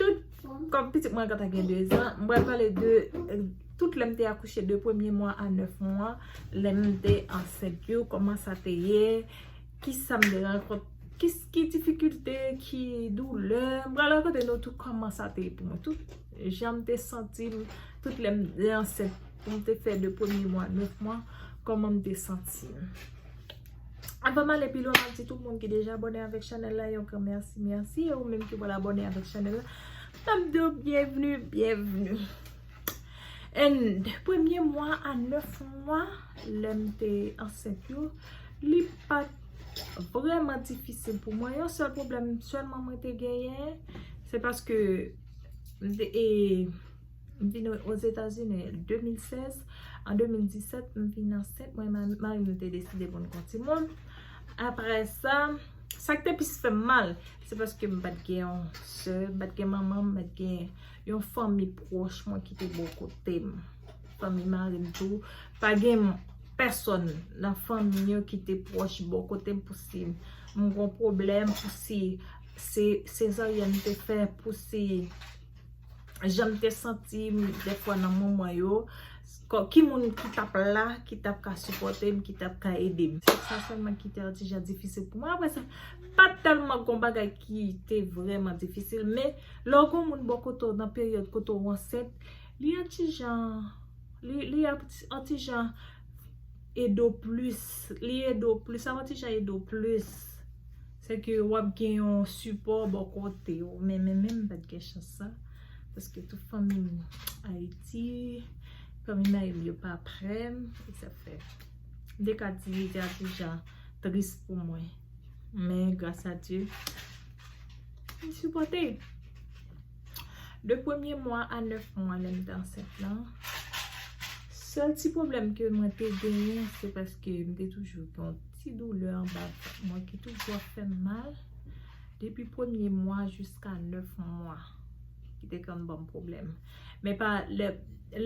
Tout, kòm pitit mwen gentan gen 2 zan, m pral pale de tout lè m te akouche de premye mwa a 9 mwa, lè m te ansent yo, kòman sa te ye, ki sa m te rankont, ki difikilte, ki doulè, m pral rakonte nou tout kòman sa te ye pou mwen, tout jan m te santi m, tout lè m te ansent, m te fè de premye mwa a 9 mwa, kòman m te santi m. Avan m ale pi lwen, m ap di tout moun ki deja abòne avèk chanèl la yon gran mèsi, mèsi. E ou menm ki pral abòne avèk chanèl la, m ap di w byenvni, byenvni. An, premye mwa a 9 mwa lè m te ansent yo, li pa t vrèman difisil pou mwen. Yon sèl pwoblèm sèlman mwen te genyen, se paske m te e... M vin Ozetazini 2016. An 2017, m vin ansent. Mwen ak mari m nou te deside pou n gen yon timoun. Apre sa, sa ki te plis fè m mal, se paske m pa t gen yon sè, m pa t gen manman m, m pa t gen yon fanmi pwòch mwen ki te bò kote m. Fanmi mari m tou, pa gen pèsòn nan fanmi yo ki te pwòch bò kote m pou si m gen yon pwoblèm, pou si se sezaryèn m te fè, pou si. janm te santim defwa nan moman yo ki moun ki tap la ki tap ka sipotem ki tap ka edem se sa selman ki te atija difisil pou mwen apre sa pat telman gon bagay ki te vreman difisil men lè w gon moun bò kote w nan peryòd kote w ansent li yon ti jan li yon ti jan ede w plis li ede w plis sa yon ti jan ede w plis Se ke w ap gen yon sipò bò kote w. Men men men m pa t gen chans sa. Paske tout fanmi m Ayiti. Fanmi mari m yo pa pre m. E sa fè. M te ka di li te yon ti jan tris pou mwen. Men gras a Dye. Li sipòte. 2 premye mwa a 9 mwa lè m te ansent lan, sèl ti pwoblèm ke mwen te genyen se paske m te toujou gen yon ti doulè anba vant mwen ki toujou ap fè m mal depi premye mwa jiska 9 mwa ki te konn ban m pwoblèm. Men pa lè,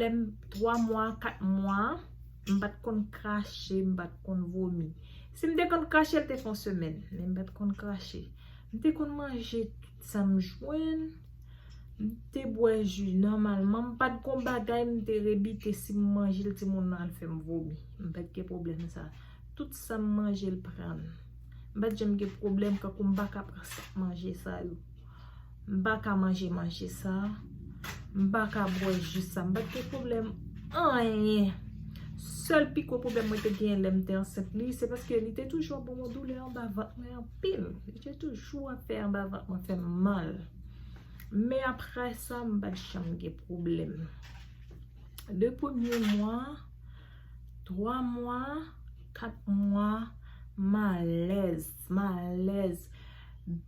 lè m 3 mwa, 4 mwa, m pa t konn krache, m pa t konn vomi. Si m te konn krache l te fè yon semèn, men m pa t konn krache. M te konn manje. Sa m jwenn, M te bwè ji nòmalman, m pa t gon bagay m te rebite si m manje l timoun nan al fè m vomi. M pa t gen pwoblèm sa. Tout sa m manje l pran l. M pa t janm gen pwoblèm tankou m pa ka pran manje sa yo. M pa ka manje manje sa. M pa ka bwè ji sa. M pa t gen pwoblèm anyen. Sèl pi gwo pwoblèm mwen te genyen lè m te ansent li, se paske li te toujou ap ban mwen doulè anba vant mwen anpil. pil li te toujou ap fè anba vant mwen fèm mal men aprè sa m pat janm gen pwoblèm 2 premye mwa 3 mwa 4 mwa m alèz m alèz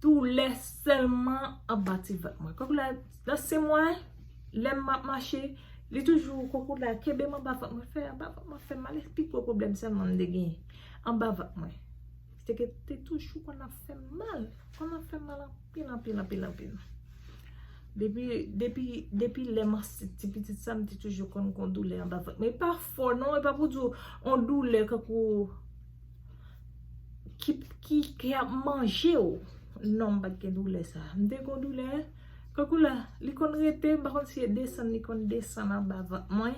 doulè sèlman anba ti vant mwen kòk la nan sen mwen lè m ap mache li toujou kòk la kenbe m anba vant mwen fè anba vant mwen fèm mal se pi gwo pwoblèm sèlman m te gen anba vant mwen. Se ke te toujou konn ap fè m mal. Konn ap fè m mal anpil, anpil, anpil, anpil. Depi, depi, depi lè m ansent ti pitit sa, m te toujou konn gon doulè anba vant. Men e pa fò non, e pa pou di w, on doulè kankou, ki, ki, ki ap manje w. Non, m pa t gen doulè sa. M te gon doulè, kankou la, li konn rete, m pa konn si e desann li konn desann anba vant mwen.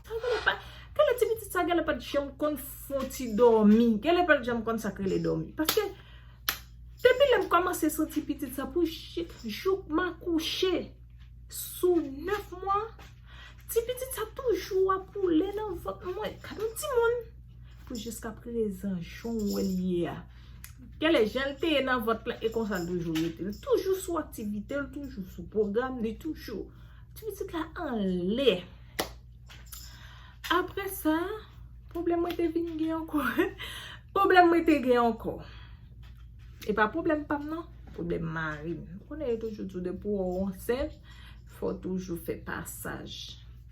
Sa m konn ap fè, gade ti pitit sa, gade l pa t janm konn. Fon ti dòmi. Gen lè pèp janm konn sak rele dòmi. Paske, depi lèm kòmanse santi pitit sa pou jik, jouk ma kouche, sou 9 mwa, ti pitit sa toujou ap woule nan vant mwen. Gade yon ti moun! Pou jiska prezan, jan w wè l ye a. Gen lè jan l te ye nan vant la, e konsa l toujou rete. L toujou sou aktivite, l toujou sou pwogram, li toujou. Ti pitit la anlè. Apre sa, pwoblèm mwen te vin gen ankò. Pwoblèm mwen te gen ankò. E pa pwoblèm pa m nan, pwoblèm mari m. Ou konnen yo toujou di w depi w ansent, fò w toujou fè pasaj.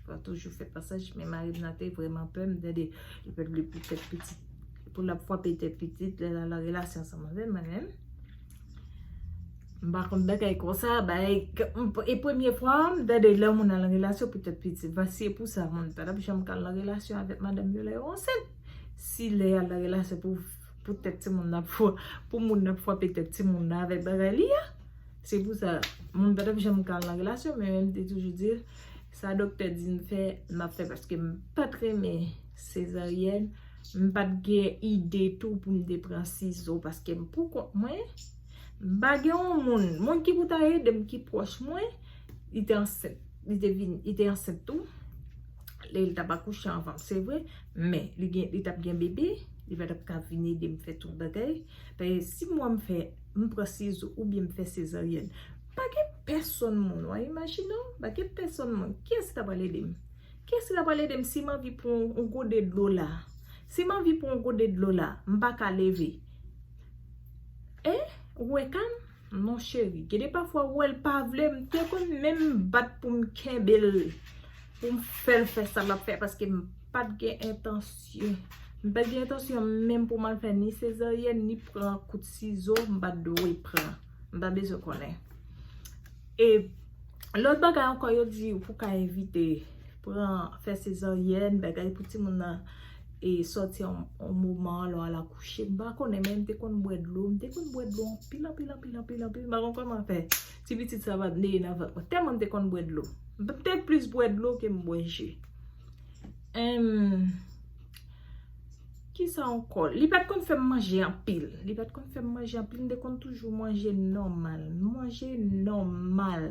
Fò w toujou fè pasaj. Men mari m nan te vreman pè m. Tande, li pè m li pou tèt pitit. Pou l ap fwape tèt pitit, lè l al an relasyon ansanm avè m. M pa konn bagay konsa, bagay, e premye fwa m tande lè yon moun al nan relasyon pou tèt pitit. Mwen si e pou sa moun pa tap janm ka al nan relasyon avèk madanm yo lè yo ansent. Si lè y al nan relasyon pou tèt ti moun nan, pou moun nan fwape tèt ti moun nan avèk bagay li a. Se pou sa moun pa tap janm ka al nan relasyon men m te toujou di. Sa doktè di m fè, m ap fè paske m pa t renmen sezaryèn. M pa t gen ide tou pou m te pran sizo paske m poukont mwen. M pa gen yon moun, moun ki pou ta ede m ki pwòch mwen. Li te ansent, li te vin, li te ansent tou. Li t ap akouche anvan m, se vre. Men, li gen, li t ap gen bebe. Li pa t ap ka vin ede m fè tout bagay. Paske si mwen m fè, m pran sizo oubyen m fè sezaryèn. Pa gen pèsonn moun, wa imajine w, pa gen pèsonn moun. Kiyès ki ta pral ede m? Kiyès ki ta pral ede m si m anvi pran yon gode dlo la? Si m anvi pran yon gode dlo la, m pa ka leve. E, ou wè ka m? Non cheri. Gen de pafwa ou wè l pa vle, m te konn menm bat pou m kenbe l, pou m fè l fè sa l ap fè, paske m pa t gen entansyon. M pa t gen entansyon menm pou m al fè ni sezaryèn, ni pran kout sizo, m pa t dwe pran. M pa bezwen konnen. E lòt bagay ankò yo di ou pou ka evite pran fè sezaryèn, bagay pou timoun nan e sòti an moman lè w al akouche. M pa konnen men m te konn bwè dlo. M te konn bwè dlo anpil, anpil, anpil, anpil, anpil. M pa konn kòman fè ti pitit sa pa t neye nan vant mwen. Tèlman m te konn bwè dlo. M te plis bwè dlo ke m bwè ji. Enm. Kisa ankò? Li pat konn fè m manje anpil. Li pat konn fè m manje anpil. M te konn toujou manje nòmal. M manje nòmal.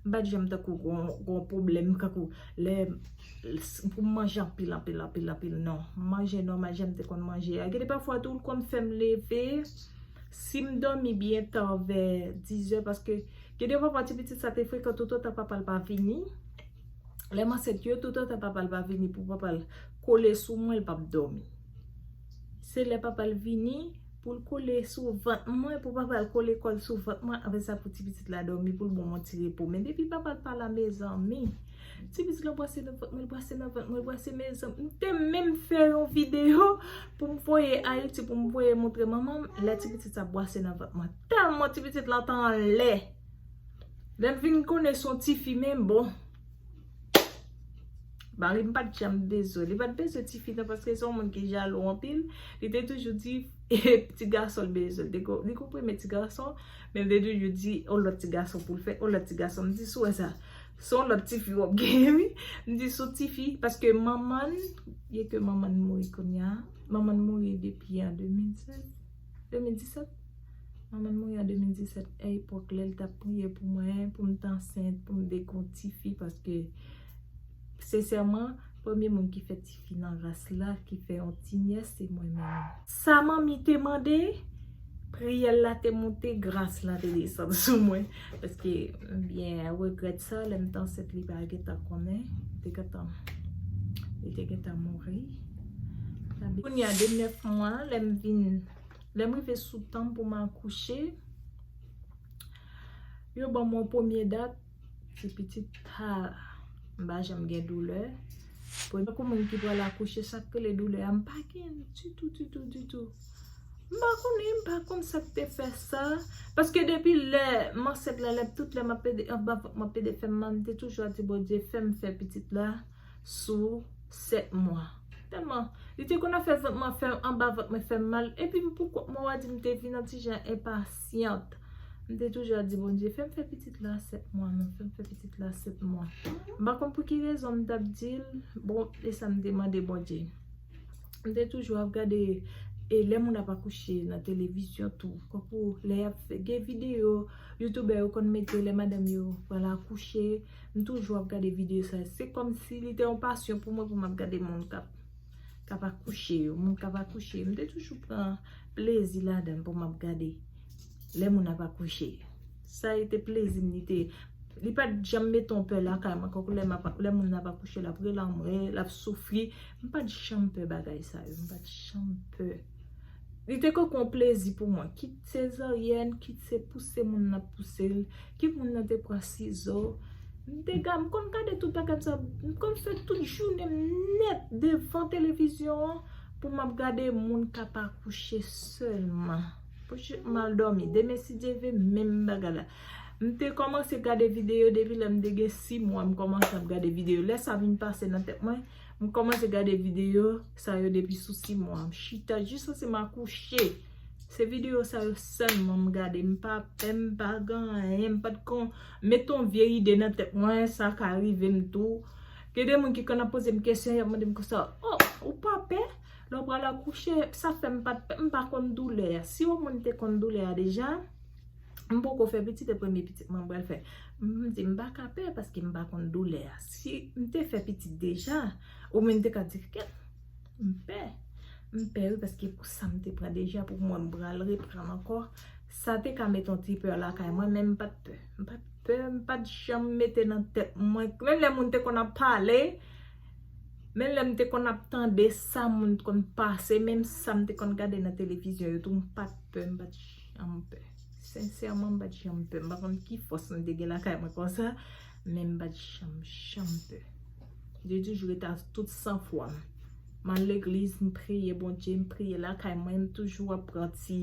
M pat janm tankou gon pwoblèm kankou lè pou m manje anpil, anpil, anpil, anpil. Non. M manje nòmal jan m te konn manje a. Gen de pafwa tou l konn fè m leve. Si m dòmi byen ta vè dizè paske gen de pafwa ti pitit sa te frekan toutotan papa l pa vini. Lè m ansent yo, tout antan papa l pa vini pou papa l kole sou mwen, l p ap dòmi. Se lè papa l vini pou l kole sou vant mwen, pou papa l kole kò l sou vant mwen, apre sa pou ti pitit la dòmi pou l ban mwen ti repo. Men depi papa l pa la mezanmi, ti pitit la bwase nan vant mwen, l bwase nan vant mwen, l bwase mezanmi. M te menm fè yon videyo pou m voye Ayiti, pou m voye montre manman m, lè ti pitit sa ap bwase nan vant mwen. Tèlman ti pitit la te anlè! Lèl vin konnen son tifi men bon. Marim pat janm bezwen. Li pat bezwen tifi nan paske son moun ki jalou anpil. Li te toujou di ti gason l bezwen. Li konn renmen ti gason. Men li te toujou di on lòt ti gason pou l fè. On lòt ti gason. M di sou wè sa. Son lòt tifi wap genyen wi. M di son tifi. Paske manman l. Byen ke manman l mouri kounye a. Manman l mouri depi an 2016. 2017? Manman l mouri an 2017, a epòk lè l t ap priye pou mwen, pou m t ansent, pou m vin yon tifi paske sensèman premye moun ki fè tifi nan ras la, ki fè yon ti nyès se mwen menm. Sa manmi te mande, priyè l la te monte, gras la te desann sou mwen. Paske m byen regrèt sa lè m t ansent li pa gentan konnen li te gentan li te gentan mouri kounya de 9 mwa lè m vin lè m rive sou tan m pou m akouche yo ban m yon premye dat ti pitit pa m pa janm gen doulè tankou moun ki pral akouche sa k rele doulè a m pa gen l ditou ditou ditou M pa konnen, m pa konn sa k te fè sa. Paske depi lè m ansent la, tout lè m ap pede anba vant m ap pede fè mal, m te toujou ap di Bondye fè m fè pitit la sou 7 mwa. Tèlman li te konn ap fè vant mwen fè, anba vant mwen fè m mal. Epi m pou kont mwen, w a di m te vin yon ti jan enpasyant. M te toujou ap di Bondye fè m fè pitit la 7 mwa non, fè m fè pitit la 7 mwa. M pa konn pou ki rezon m t ap di l, bon, e sa m te mande Bondye. M te toujou ap gade e lè moun ap akouche nan televizyon tou. Tankou lè y ap fè, gen videyo youtoubè yo konn mete lè madanm yo pral akouche. M toujou ap gade videyo sa. Se kòmsi li te yon pasyon pou mwen pou m ap gade moun k ap akouche yo. Moun k ap akouche. M te toujou pran plezi ladan l pou m ap gade lè moun ap akouche. Sa e te plezi m li te. Li pa t janm mete yon pè lakay mwen. Tankou lè m ap, lè moun nan ap akouche l ap rele anmwe, l ap soufri. M pa t janm pè bagay sa yo. M pa t janm pè. Li te konkou yon plezi pou mwen. Kit sezaryèn, kit se pouse moun nan ap pouse l, kit moun nan te pran sizo. M te gad, m konn gade tout bagay sa yo. M konn fè tout jounen m nèt devan televizyon an pou m ap gade moun k ap akouche sèlman. Pouki m mal dòmi? Demen si Dye vle menm bagay la. M te kòmanse gade videyo depi lè m te gen 6 mwa m kòmanse ap gade videyo. Lè sa vin pase nan tèt mwen, m kòmanse gade videyo sa yo depi sou 6 mwa. M chita jiskose m akouche. Se videyo sa yo sèlman m gade. M pa pè, m pa gen anyen. M pat kon met on vye ide nan tèt mwen sa ka rive m tou. Gen de moun ki konn ap poze m kesyon y ap mande m konsa, O, ou pa pè? Lè w pral akouche, sa fè m pa t, m pa konn doulè a. Si yon moun te konn doulè a deja, m poko fè pitit e premye pitit mwen m pral fè. M di m pa ka pè paske m pa konn doulè a. Si m te fè pitit deja, oubyen m te ka di kèt, m pè. M pè wi paske pou sa m te pran deja pou mwen m pral reprann ankò, sa te ka met yon ti pè lakay mwen men m pa t pè. M pa t pè, m pa t janm mete nan tèt mwen, menm lè moun te konn ap pale, Menm lèm te konn ap tande sa moun t konn pase, menm sam te konn gade nan televizyon yo tou mpat pè, mpat janm pè. Sensèman mpat janm pè, mpa konn ki fòs mwen te gen lakay mwen konsa, men mpat janm janm pè. Mte toujou rete avk tout san fwam. Mal legliz, m priye Bondye, m priye lakay mwen, m toujou ap pran ti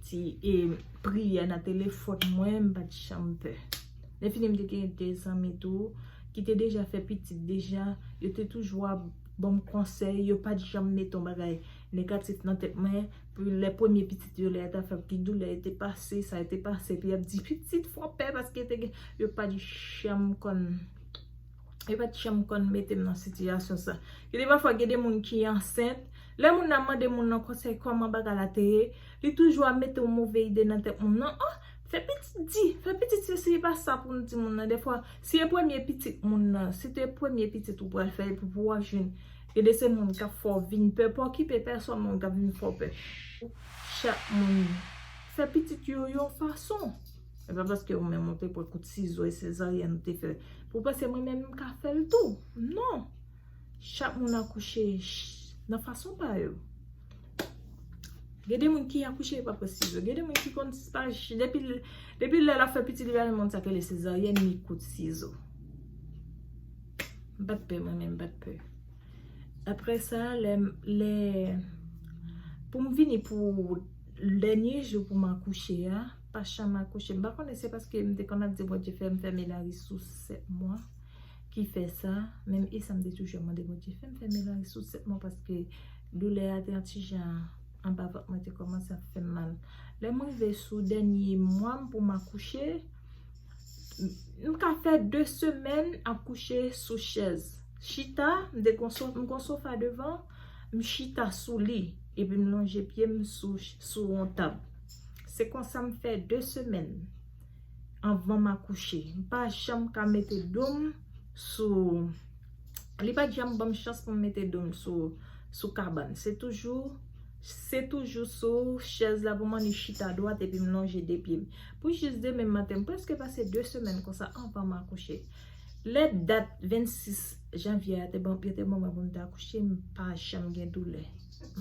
ti priyè nan telefòn mwen, mpat janm pè. Lè fini m te gen 2 zanmi tou ki te deja fè pitit deja, yo te toujou ap ban m konsèy, yo pa t janm mete yon bagay negatif nan tèt mwen, pou lè premye pitit yo, lè yo ta fè l, ki doulè yo te pase, sa yo te pase, epi y ap di pitit fè w pè paske te gen, yo pa t janm konn, yo pa t janm konn mete m nan sitiyasyon sa. Gen de pafwa gen de moun ki ansent, lè moun nan mande moun nan konsèy kòman bagay la te ye, li toujou ap mete yon move ide nan tèt moun nan, oh! Fè pitit di, fè pitit sesi e pa sa pou nou di moun nan defwa. Si e premye pitit moun nan, si te premye pitit ou pral fè epi pou wap jwenn e de se moun kap fè w vin pè, pa okipe pèsòn moun kap vin fè w pè. Chak moun fè pitit yo yon fason. E pa paske ou menm ou te pran kout sizo e sezaryèn ou te fè pou panse mwen menm m ka fè l tou. Non! Chak moun akouche nan fason pa yo. Gen de moun ki akouche yo pa pran sizo. Gen de moun ki konn pa depi lè la fè pitit li pa gen moun sa k rele sezaryèn ni kout sizo. M pat pè mwen menm m pat pè. Aprè sa lè lè pou m vini pou dènye jou pou m akouche a, pa chanm akouche. M pa konnen se paske m te konn ap di Bondye fè m fè menaj sou 7 mwa. ki fè sa, men e sa m te toujou ap mande Bondye, fè m fè menaj sou 7 mwa paske doulè a te yon ti jan anba vant mwen te kòmanse ap fè m mal. Lè m rive sou dènye mwa m pou m akouche, m ka fè 2 semèn ap kouche sou chèz. Chita, m te gon sofa, m gon sofa devan, m chita sou li, epi m lonje pye m sou yon tab. Se konsa m fè 2 semèn. anvan m akouche. M pa janm ka mete do m sou, li pa t janm ban m chans pou m mete do m sou kabann. Se toujou, se toujou sou chèz la pou m annik chita dwat epi m lonje 2 pye m. Pou jis demen maten, m prèske pase 2 semèn konsa anvan m akouche. Lè dat 26 janvye a te bon, yo te ban m pou m te akouche, m pa janm gen doulè.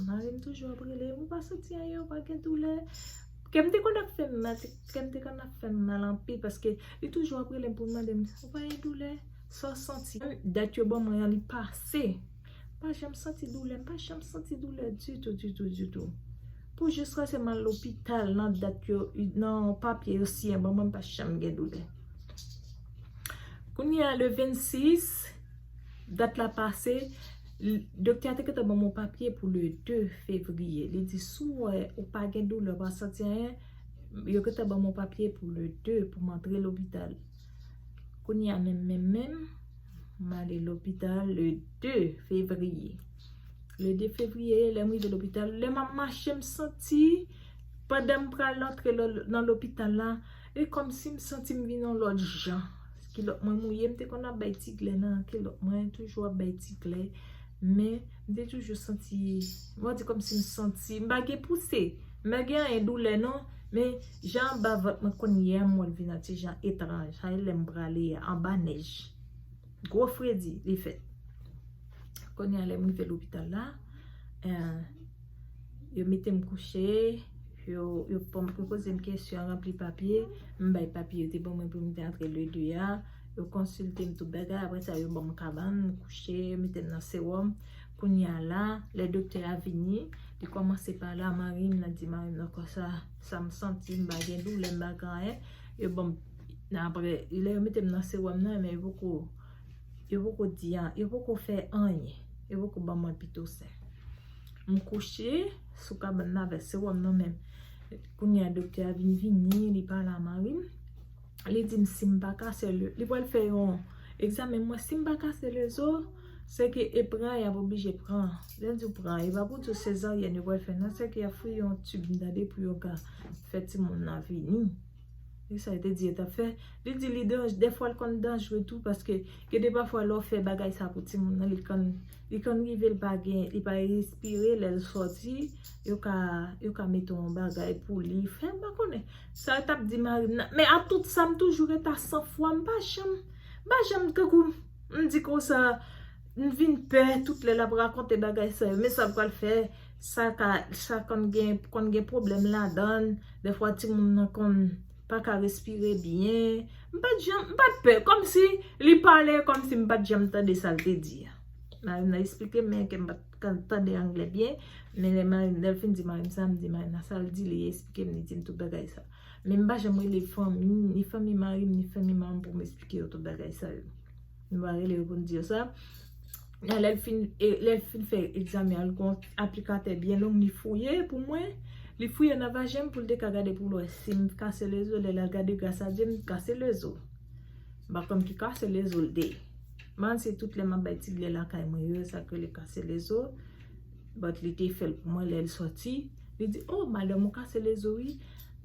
Mari m toujou ap rele m, ou pa santi anyen, ou pa gen doulè. Kè m te konn ap fè m mal, kè m te konn ap fè m mal anpil paske li toujou ap rele m pou l mande m, ou pa gen doulè? Sa w santi? Dat yo ban mwen an li pase. M pa janm santi doulè, m pa janm santi doulè ditou, ditou, ditou. Pou jiskase m al lopital nan dat yo, nan papye yo siyen ban mwen m pa janm gen doulè. Kounye a le 26, dat la pase, Doktè a te gentan banm yon papye pou le 2 fevriye. Li di si w wè ou pa gen doulè, ou pa santi anyen, yo gentan banm yon papye pou le 2 pou m antre lopital. Kounye a menm menm menm, m ale lopital le 2 fevriye. Le 2 fevriye, lè m rive lopital, lè m ap mache m santi pandan m pral antre nan lopital la, E kòmsi m santi m vin yon lòt jan. Kilòt mwen mouye, m te konn ap bay ti glè nan kilòt mwen, toujou ap bay ti glè. Men, m te toujou santi, m an di kòmsi m santi, m pa gen pouse. M pa gen anyen doulè non, men jan anba vant mwen konn ye a m wè l vin an ti jan etranj. Hay lè m prale a, anba nèj. Gwo fredi li fè. Kounye a lè m rive lopital la, en. Yo mete m kouche, yo poze m kesyon, yo ranpli papye, m bay papye yo te ban mwen pou m te antre le 2 a, yo konsilte m tout bagay, apre sa yo ban m kabann, m kouche, yo mete m nan sewòm, kounye a la, lè doktè a vini, li kòmanse pale a mari m, li di mari m nan konsa, sa m santi, m pa gen doulè, m pa gen anyen, yo ban m, nan apre, lè yo mete m nan sewòm nan, men yo poko. Yo poko di an, yo poko fè anyen. Yo poko ban mwen pito sen. M kouche sou kabann nan avèk sewòm nan men kounye a doktè a vin vini, li pale a mari m. Li di m si m pa ka sè li pral fè yon egzamen mwen. Si m pa ka sè lezo, se ke e pran y ap oblije pran. Lè l di w pran, e pa pou l di w sezaryèn yo pral fè nan. Se ke y ap fouye yon tib nan de pou yo ka fè timoun nan vini. Li sa li te di li tap fè. Li di li danj, dèfwa li konn danjre tou paske gen de pafwa lè w fè bagay sa pou timoun nan li konn li konn rive li pa gen li pa respire lè l sòti yo ka yo ka mete yon bagay pou li fè m pa konnen sa l tap di mari m nan men ak tout sa m toujou ret a san fwa m pa janm m pa janm tankou m di konsa m vin pè tout lè l ap rakonte bagay sa yo men sa l pral fè. Sa ka, sa konn gen, konn gen pwoblèm ladann, dèfwa timoun nan konn pa ka respire byen. M pa t janm, m pa t pè, kòm si li pale kòm si m pa t janm tande sa l te di a. Mari m nan esplike m men ke m pa t ka tande angle byen, men lè mari m, lè l fin di mari m sa, m di mari m nan sa l di, li esplike m, li di m tout bagay sa. Men m pa janm rele fanmi, ni fanmi mari m, ni fanmi manman m pou m esplike yo tout bagay sa yo. Nou va rele yo pou nou di yo sa. Nan lè l fin, lè l fin fè egzamen an, li gon aplikatè byen long li fouye pou mwen. Li fouye nan vajen m pou l te ka gade pou l wè si m kase lezo. Lè l al gade gras a dye m, m kase lezo. M pa konn ki kase lezo l te ye. Man se tout lè m ap bay ti ble lakay mwen yo, sa k rele kase lezo. But li te fè l pou mwen lè l soti. Li di, oh madanm ou kase lezo wi.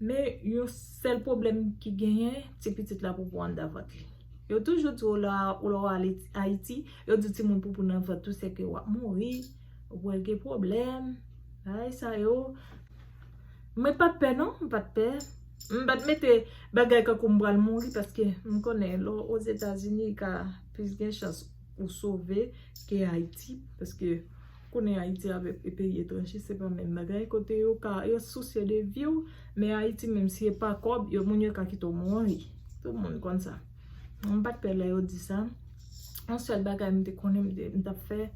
Men yon sèl pwoblèm ki genyen, ti pitit la pou pou anndan vant li. Yo toujou di w lè w ale Ayiti, yo di w timoun poupou nan vant ou se ke w ap mouri, ou pral gen pwoblèm, bagay sa yo. Mwen pa t pè non, mwen pa t pè. Mwen pa t mete bagay tankou m pral mouri paske m konnen lè w Ozetazini, ka plis gen chans. Ou sove ke Ayiti, paske konnen Ayiti avèk e peyi etranje se pa menm bagay, kote yo ka, yo sousye de vi w, men Ayiti menm si e pa kòb, yo moun yo ka kite w mouri. Tout moun konn sa. M pa t pè lè yo di sa. On sèl bagay m te konnen m te, m t ap fè,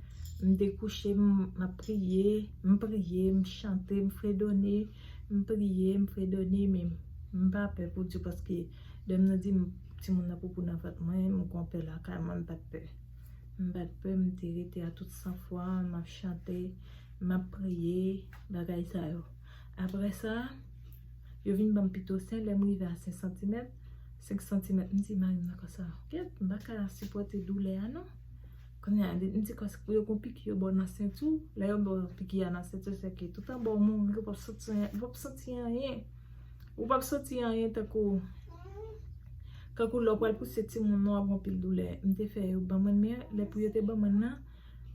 m te kouche m, m ap priye, m priye, m chante, m fredone, m priye, m fredone, men m pa pè pou di w paske. Lèm nan dim timoun nan poupou nan vant mwen m konpè lakay mwen m pat pè m pat pè m te rete a tout san fwa map chante map priye bagay sa yo aprè sa yo vin banm pi tosen lèm rive a 5 santimèt 5 santimèt m di marim nan konsa ket m paka sipòte doulè a non kounye a m di kòs pou yo gon piki yo baw nan senti w lè yo baw piki a nan senti w sèke tout anba w mouri ou pap santi anyen. Ou pap santi anyen tankou tankou lè w pral pouse timoun ou ap gen anpil doulè. M te fè yo ban mwen men lè pou yo te ban mwen nan,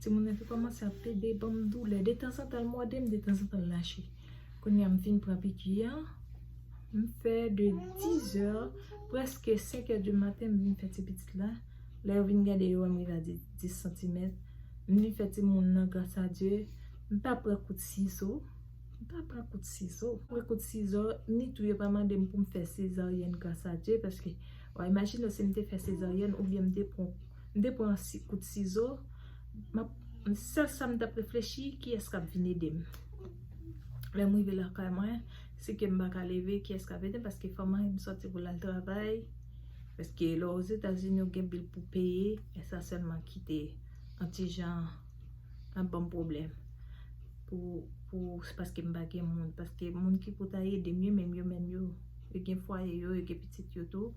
timoun nan te kòmanse ap plede ban m doulè. Detanzantan l mòde m, detanzantan l lache. Kounye a m fin pran piki a, m fè de dizè prèske senkè di maten m vin fè ti pitit la. Lè yo vin gade yo wè m rive a dis santimèt. M vin fè timoun nan grasadye m pa pran kout sizo. M pa pran kout sizo. Pran kout sizo ni tou yo pa mande m pou m fè sezaryèn gras a Dye paske wa imajine w si m te fè sezaryèn oubyen m te pran m te pran kout sizo m ap sèl sa m t ap reflechi kiyès k ap vin ede m lè m rive lakay mwen si ke m pa ka leve kiyès k ap ede m paske fò mari m sòti pou l al travay paske lè w ozetazini ou gen bil pou peye e sa sèlman ki te yon ti jan ap banm pwoblèm pou paske m pa gen moun paske moun ki pou ta ede m yo menm yo menm yo yo gen fwaye yo, yo gen pitit yo tou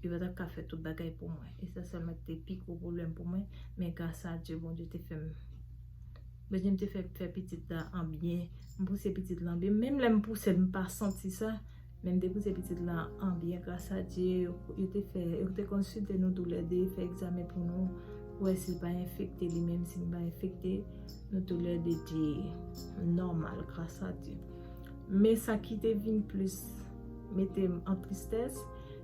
yo pa t ap ka fè tout bagay pou mwen e sa sèlman ki te pi gwo pwoblèm pou mwen men gras a Dye Bondye te fè m Bondye m te fè m fè pitit la an byen m pouse pitit la an byen menm lè m pouse l m pa santi sa Men m te pouse pitit la an byen gras a Dye, yo te fè, yo te konsilte nou tou lè 2, fè egzamen pou nou, pou wè si l pa enfekte li menm, si m pa enfekte, nou tou lè 2 te nòmal gras a Dye. Men sa ki te vin plis mete m an tristès,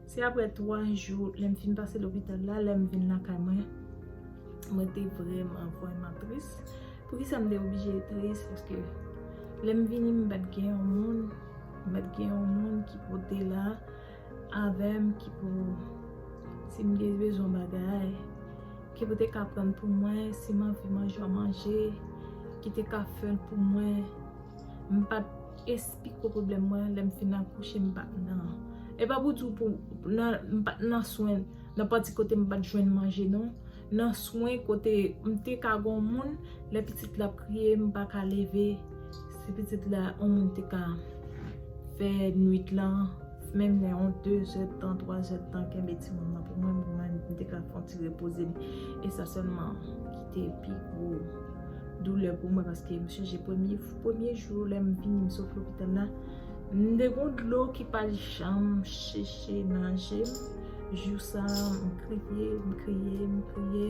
se aprè 3 jou lè m fin pase lopital la, lè m vin lakay mwen, mwen te vrèman, vrèman tris. Poukisa m te oblije tris? Paske lè m vini m pa t gen yon moun. Mèt gen yon moun ki pou te la avèm ki pou si m gen bezwen bagay ki pou te ka prann pou mwen si m anvi manje yon manje ki te ka fè l pou mwen m pa t espiko pwoblèm mwen lè m fin akouche m pa t nan e pa pou di w pou nan m pa t nan swen nan pati kote m pa t jwenn manje non nan swen kote m te ka gon moun lè pitit la ap kriye m pa ka leve si pitit la on moun te ka fè nwit lan menm lè on 2 zèdtan 3 zèdtan kenbe ti moun nan pou mwen pou mwen m te ka fon ti repoze m e sa sèlman ki te pi gwo doulè pou mwen paske m chanje premye jou lè m vini m sot lopital la. M de gon dlo ki pa janm cheche nan je m Jou sa m kriye, m kriye, m kriye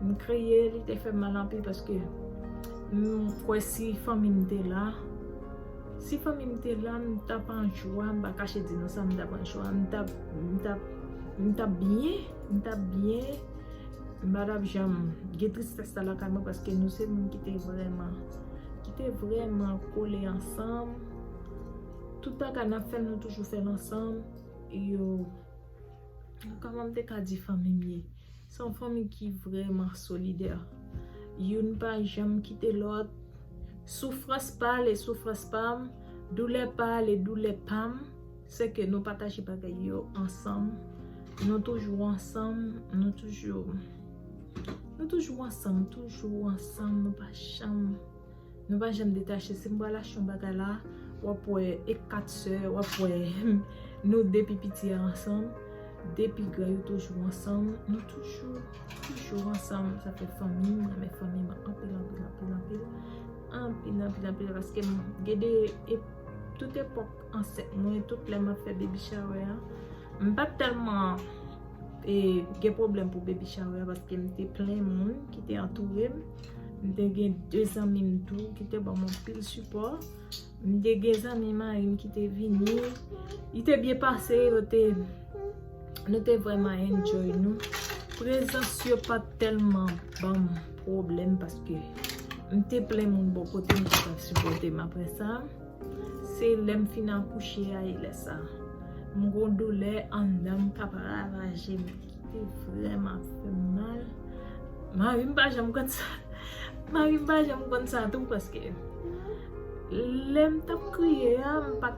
M kriye li te fè m mal anpil paske m kwè si fanmi m te la Si fanmi m te la m t ap an jwa m pa kache di nou sa m t ap an jwa M t ap M t ap M t ap byen M t ap byen M pa t ap janm gen tristès sa lakay mwen paske nou se moun ki te vrèman ki te vreman kole ansanm tout ta ka nap fèl nou toujou fèl ansanm yo kòman m te ka di fanmi m ye se yon fanmi ki vreman solidè youn pa janm kite lòt soufrans pa l e soufrans pa m doulè pa l e doulè pa m Se ke nou pataje bagay yo ansanm. Nou toujou ansanm. Nou toujou. Nou toujou ansanm. Toujou ansanm. Nou pa janm. Nou pa janm detache. Si m pral achte yon bagay la, w ap wè e 4 sè. W ap wè nou 2 pi piti a ansanm. 2 pi gran yo toujou ansanm. Nou toujou. Toujou ansanm. Sa fè fanmi. M renmen fanmi m anpil, anpil, anpil, anpil. Anpil, anpil, anpil. Paske m gen de. Tout epòk. Ansent mwen tout lè map fè baby shower an. M pat tèlman e gen pwoblèm pou baby shower an paske m te plen moun ki te antoure m. M te gen 2 zanmi m tou ki te ban m anpil sipò. M te gen zanmi mari m ki te vini. Li te byen pase yo te nou te vreman enjoy nou. Prezans yo pat tèlman ban m pwoblèm paske m te plen moun bò kote m te ka sipòte m aprè sa. Se lèm fin akouche a e lè sa. M gon doulè anndanm kap ravajem ki vreman fèm mal. Marim pa janm konn sa. Marim pa janm konn sa tou paske lèm tap kriye a m pat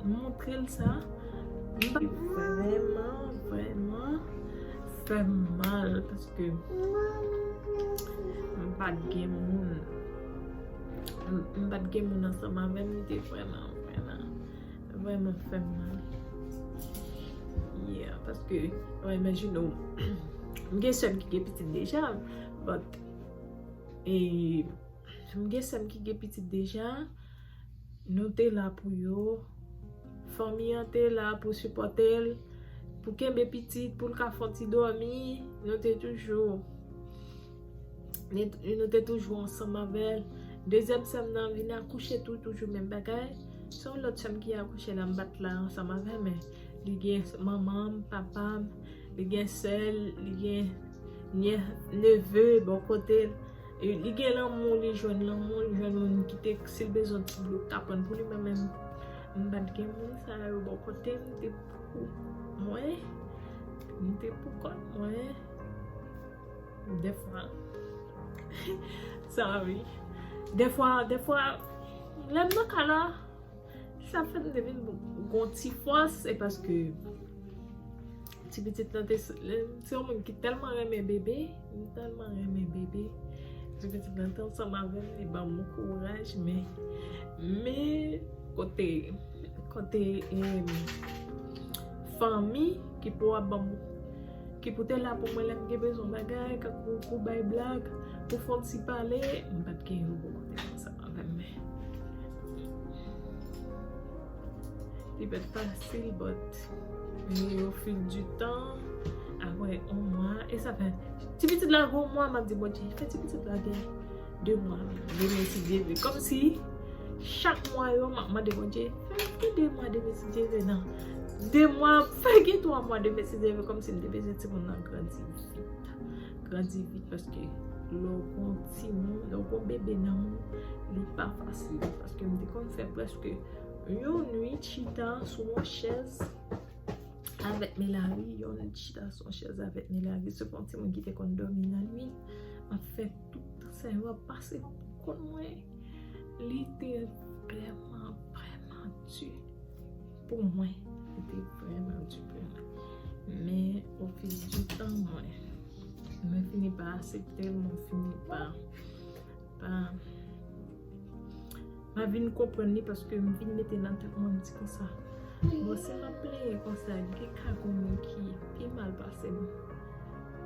montrel sa. Li vreman vreman fèm mal paske m pat gen moun. m pat gen moun ansanm avèm li te vrèman vrèman vrèman fèm mal yeah paske mwen imajine ou m gen sèm ki gen pitit deja but e m gen sèm ki gen pitit deja nou te la pou yo fanmi an te la pou sipòte l pou kenbe pitit pou l ka fon ti dòmi nou te toujou Nou te toujou ansanm avèl. Dezyèm sèm nan vin akouche tou, toujou menm bagay. Se yon lòt sèm ki akouche la m bat la ansanm avè men. Li gen manman m, papa m, li gen sè l, li gen nyè, neve bò kote l. Li gen lanmou, li jwenn lanmou, li jwenn moun ki te si l bezwen ti dlo l ta pran pou li. Mwen menm m pa t gen moun sa yo bò kote m. M te pou mwen. M te pou kont mwen. Defwa Sorry Defwa Defwa Lè m nan ka la Sa fè m te vin gon ti fòs E paske Ti pitit nan te Se yon moun ki tèlman renmen bebe Li tèlman renmen bebe Ti pitit nan te ansanm avè m Li banm kouraj Men Men Kote Kote Fanmi Ki pou ap banm Ki pou te la pou mwen lè m gen bezwen bagay, kankou pou bay blag, pou fon ti pale, m pa t gen yon bon kote pou sa avè m. Li pa t fasil but men o fil di tan, aprè on mwa, e sa fè, ti pitit la gen on mwa m ap di Bondye, fè ti pitit la gen. 2 mwa depi m etidye vre kòmsi chak mwa yo m ap mande Bondye fè m gen 2 mwa depi m etidye vre nan 2 mwa fè gen 3 mwa depi m etidye vre kòmsi m te bezwen timoun nan grandi vit grandi vit paske lè w gon timoun lè w gon bebe nan moun li pa fasil paske m te konn fè prèske yon nwit chita sou yon chèz avèk Melari yon nwit chita sou yon chèz avèk Melari se pou yon timoun ki te konn dòmi nan nwit m ap fè Tout tan sa yo ap pase mwen poko konn mwen. Li te vrèman vrèman di pou mwen. Li te vrèman di pou mwen. Men o fil di tan mwen. Mwen fini pa asepte l. Mwen fini pa. Ma vin konprann li paske m vin mete nan tèt mwen m di konsa bon si map plenyen konsa gen ka gon moun ki pi mal pasem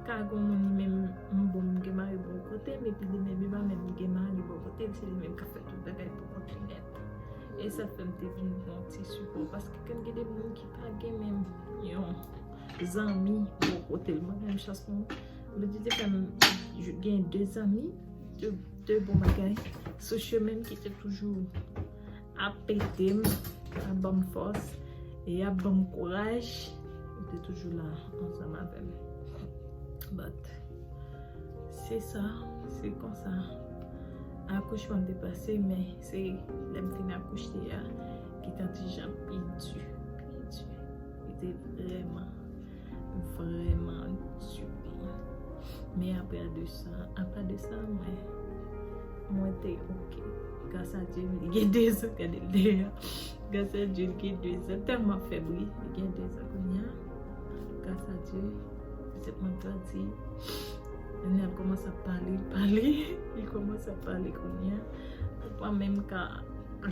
ka gon moun li menm m bon m gen mari bò kotem epi li menm li pa menm gen mari bò kotel se li menm kap fè tout bagay pou kont li nèt e sa fèm te vin pran ti sipò paske kèm gen de moun ki pa gen menm yon zanmi bò kotel mwen menm chans pou mwen Bondye te fèm gen de zanmi 2 bon bagay sou chemenm ki te toujou ap edem, ap banm fòs e ap banm kouraj yo te toujou la ansanm avèm but se sa se konsa akouchman te pase men se lèm fin akouche a ki te antijan pi di pi di li te vreman Vreman di byen. Men apre a de sa, apa de sa mwen, mwen te ok. Gras a Dye m gen 2 zan gade l deyo. Gras a Dye m gen 2 zan. Tèlman ap fè bri, m gen 2 zan kounye a. Gras a Dye, pitit mwen grandi. Kounye a l kòmanse ap pale, pale. Li kòmanse ap pale kounye a. Li pa menm ka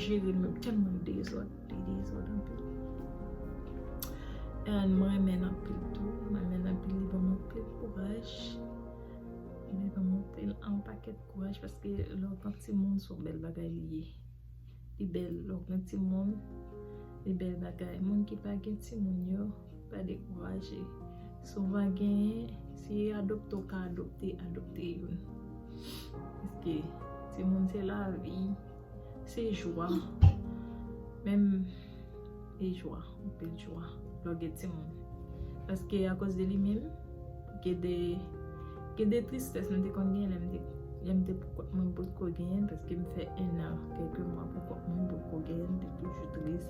jere l menm tèlman l dezòd. Li dezòd anpil. And mwen renmen l anpil tou. Mwen renmen l anpil. Li ban m anpil kouraj. Li ban m anpil anpakèt kouraj paske lè w gen timoun se yon bèl bagay li ye. Li bèl lè w gen timoun. Li bèl bagay. Moun ki pa gen timoun yo, pa dekouraje. Souvan genyen, si yo adopte w ka adopte, adopte youn. Paske timoun se lavi. Se jwa. Menm e jwa. Anpil jwa. Lò gen ti moun. Paske a kòz de li menm, gen de, gen de tristès mwen te konn gen lè m te, lè m te pou kòt mwen pot ko genyen. Paske m fè 1 an, kèlke mwa pou kòt mwen pot ko genyen. M te toujou tris.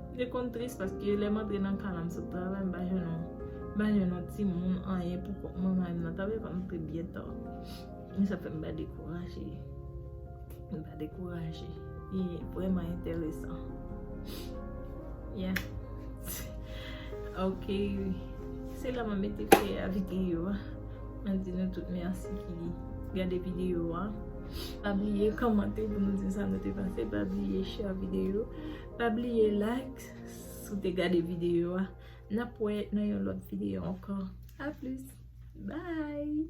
M te konn tris paske lè m antre nan ka la m sot travay m pa jwenn yon, m pa jwenn yon ti moun, anyen pou kòt mwen. Mari m nan travay, m antre byen ta. Men sa fè m pa dekouraje. Nou pa dekouraje. Li vreman enteresan. Yeah. Ok. Se la mwen mete fè a videyo a. Mwen di nou tout merci ki gade videyo a. Pa bliye komante pou nou di sa nou te panse. Pa bliye share videyo. Pa bliye like sou te gade videyo a. Nap wè nan yon lot videyo anko. A plus. Bye.